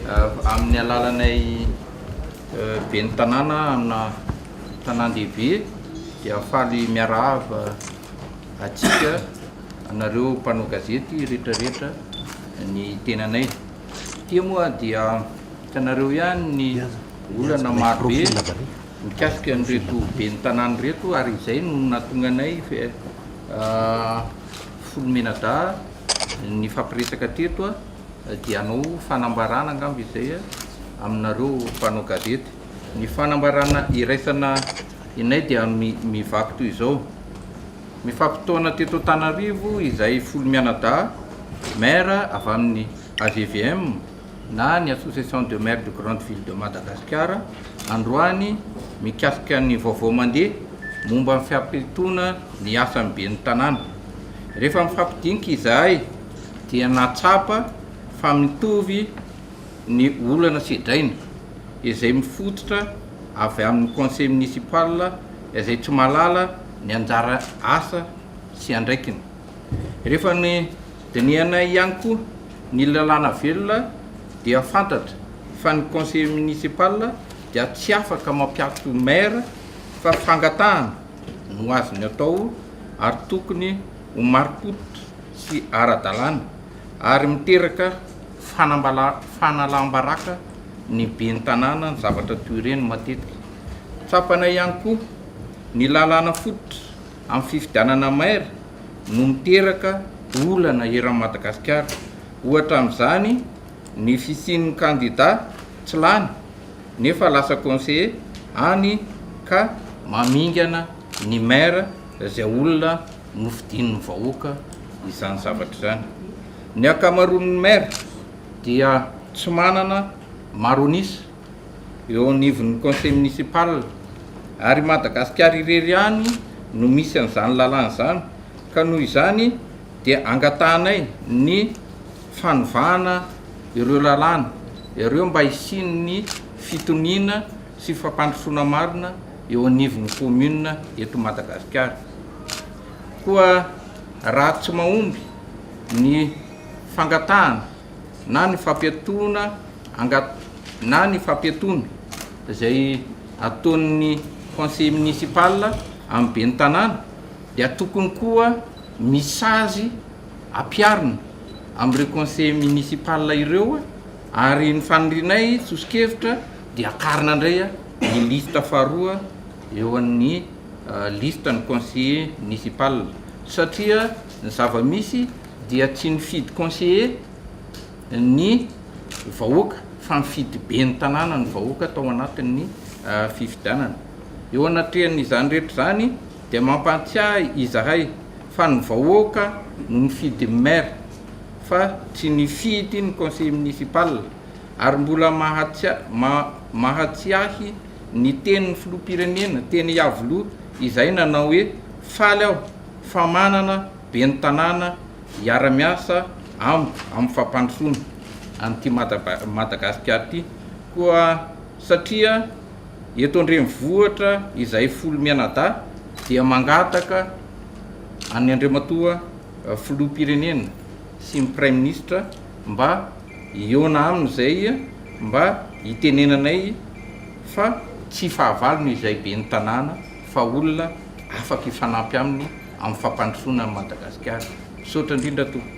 Amin'ny alalanay Ben'ny Tanàna amina tanàn-dehibe dia faly miarahaba antsika anareo mpanao gazety rehetrarehetra ny tenanay. Ity moa dia hitanareo ihany ny olana marobe mikasika an'ireto Ben'ny Tanàna ireto ary izay no nahatonga anay Filoha Menadahy nifampiresaka teto. Dia hanao fanambarana angamba izay aminareo mpanao gazety. Ny fanambarana iraisana inay dia mivaky toy izao, Mifampitaona teto Antananarivo izahay folo mianadahy maire avy amin'ny AGVM na ny Association de Maires de Grande Ville de Madagasikara androany mikasika ny vaovao mandeha momba ny fiampitona ny asan'ny ben'ny tanàna. Rehefa mifampidinika izahay. dia nahatsapa fa mitovy ny olana sedraina izay mifototra avy amin'ny Conseil Municipal izay tsy mahalala ny anjara asa sy andraikiny. Rehefa nodinihanay ihany koa ny lalàna velona dia fantatra fa ny Conseil Municipal dia tsy afaka mampiato Maire fa fangatahana no azony atao ary tokony ho marim-pototra sy ara-dalàna ary miteraka fanalam-baraka ny ben'ny tanàna ny zavatra toy ireny matetika. Tsapana ihany koa ny lalàna fototra amin'ny fifidianana maire no miteraka olana eran'i Madagasikara. Ohatra amin'izany ny fisian'ny kandida tsy lany nefa lasa conseiller any ka mamingana ny maire. izay olona nofidian'ny vahoaka izany zavatra izany. Ny ankamaroan'ny maire dia tsy manana maro an'isa eo anivon'ny conseil municipal ary i Madagasikara irery ihany no misy an'izany lalàna izany ka noho izany dia angatahanay ny fanovana ireo lalàna ireo mba hisian'ny fitoniana sy fampandrosoana marina eo anivon'ny commune eto Madagasikara. Koa raha tsy mahomby ny fangatahana na ny fampiatoana angat na ny fampiatoana izay ataon'ny conseiller municipal amin'ny ben'ny tanàna dia tokony koa misy sazy ampiharina amin'ireo conseiller municipal ireo ary ny fanirinay sosokevitra dia akarina indray ny lisitra faharoa eo an'ny lisitra ny conseiller municipal satria ny zava-misy dia tsy nifidy conseiller ny vahoaka fa nifidy ben'ny tanàna ny vahoaka tao anatin'ny fifidianana. Eo anatrehan'izany rehetra izany dia mampahatsiahy izahay fa ny vahoaka no nifidy ny maire fa tsy nifidy ny conseiller municipal. ary mbola mahatsiahy ny tenin'ny filoham-pirenena teny Iavoloha izay nanao hoe, faly aho fa manana ben'ny tanàna hiara-miasa amiko amin'ny fampandrosoana an'ity Madagasikara ity koa satria eto an-drenivohitra izay folo mianadahy dia mangataka an'Andriamatoa filoham-pirenena sy ny praiminisitra mba hihaona aminy izay mba hitenenanay fa tsy fahavalony izay ben'ny tanàna fa olona afaka hifanampy aminy amin'ny fampandrosoana an'i Madagasikara. Misaotra indrindra tompoko.